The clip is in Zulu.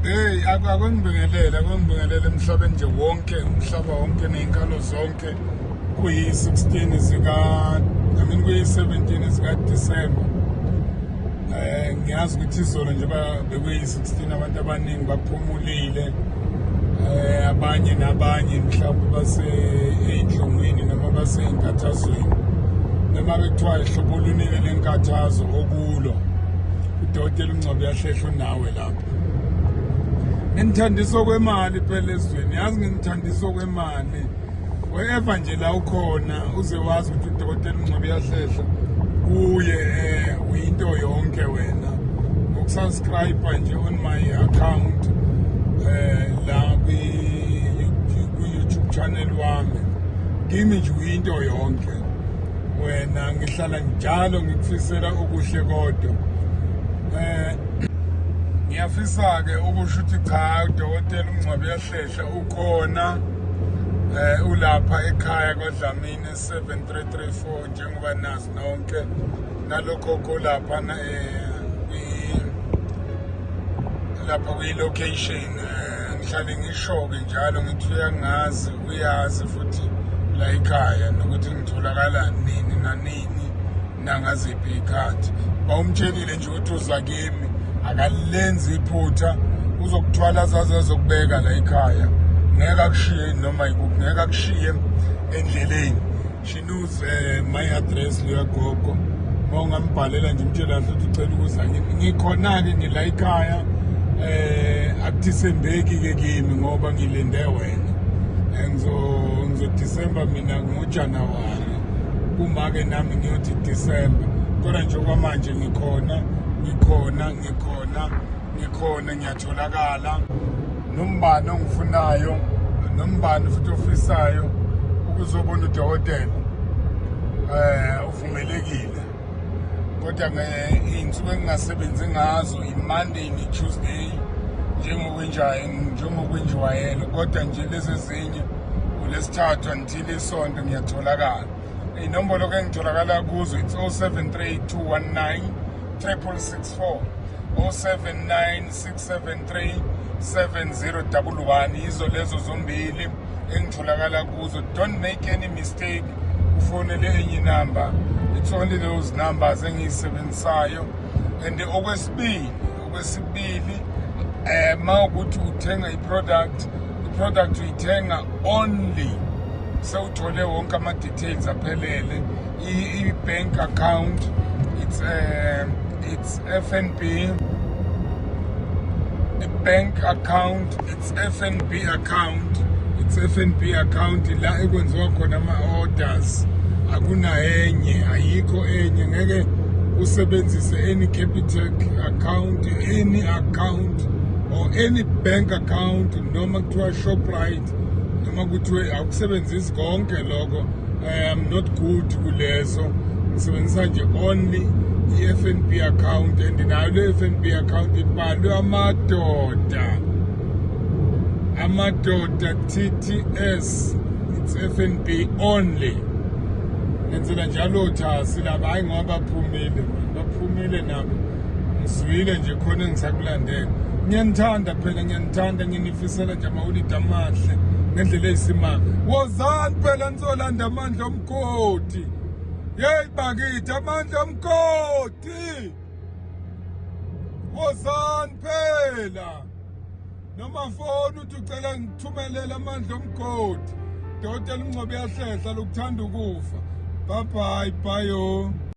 Hey akwangibingelele akwangibingelele emhlabeni nje wonke umhlaba wonke nezinkalo zonke kuyi-16 zika I mean kuyi-17 zika December eh ngiyazi ukuthi izolo nje bekuyi Sithina abantu abaningi baphumulile eh abanye nabanye mhlawumbe base einhlungwini noma base inkathazweni noma bekuthiwa ihlobo lunike lenkathazo okulo udokotela uNgcobo yahlehla unawe lapho nginithandisa okwemali phela ezweni yazi nginithandisa okwemali wherever nje la ukhona uze wazi ukuthi udokotela uNgcobo yahlehla kuye eh, uyinto yonke wena ukusubscribe nje on my account eh la kwi YouTube channel wami kimi nje uyinto yonke wena ngihlala njalo ngikufisela okuhle kodwa eh ngiyafisa ke ukusho ukuthi cha udokotela uNgcobo Shesha ukhona eh ulapha ekhaya kwaDlamini 7334 njengoba nazi nonke nalokho kulapha na eh lapha kwi location eh, ngihlale ngishoke njalo ngithi uyangazi uyazi futhi la ekhaya nokuthi ngitholakala nini nanini nangaziphi iy'khathi bawumtshelile nje ukuthi uza kimi akalenzi iphutha uzokuthwala azaze azokubeka la ekhaya ngeke akushiye noma yikuphi ngeke akushiye endleleni she knows uh, my address leyagogo uma ungambhalela nje umtshela kahle ukuthi ucela ukuza kimi ngikhona-ke ngila ekhaya um akuthisembeki-ke kimi ngoba ngilinde wena um ngizodisemba mina ngojanuwari kumake nami ngiyothi December kodwa nje kwamanje ngikhona ngikhona ngikhona ngikhona ngiyatholakala nombani ongifunayo nombani futhi ofisayo ukuzobona udokotela eh uvumelekile kodwa ngeinsuku engingasebenzi ngazo imonday netuesday njengokwenjayo njengokwenjiwayelo kodwa nje lezi ezinye ulesithathu Thile sonto ngiyatholakala. Inombolo ke ngitholakala kuzo it's 073219 3664 079673 7011 yizo lezo zombili engitholakala kuzo don't make any mistake ufonele enye inamba it's only those numbers engiyisebenzisayo and okwesibili okwesibili eh ma ukuthi uthenga iproduct iproduct uyithenga only sewuthole wonke ama details aphelele i bank account it's uh, it's FNB a bank account FNB account it's FNB account la ekwenziwa khona ama orders akunayenye ayikho enye ngeke usebenzise any Capitec account any account or any bank account noma kuthiwa Shoprite noma kuthiwe akusebenzisi konke lokho I am not good kulezo ngisebenzisa nje only i-FNB account and nayo le FNB account ibhalwe amadoda amadoda TTS it's FNB only ngenzela njalo thasi laba hayi ngoba baphumile baphumile nabo ngizwile nje khona engisakulandela ngiyanithanda phela ngiyanithanda ngini Fisela nje amawulidi amahle ngendlela eyisimanga wozani phela nizolanda amandla omgodi yeyi bakithi amandla omgodi wozani phela noma foni uthi ucela ngithumelele amandla omgodi dota elingcobe yahlehla lokuthanda ukufa bye bye bye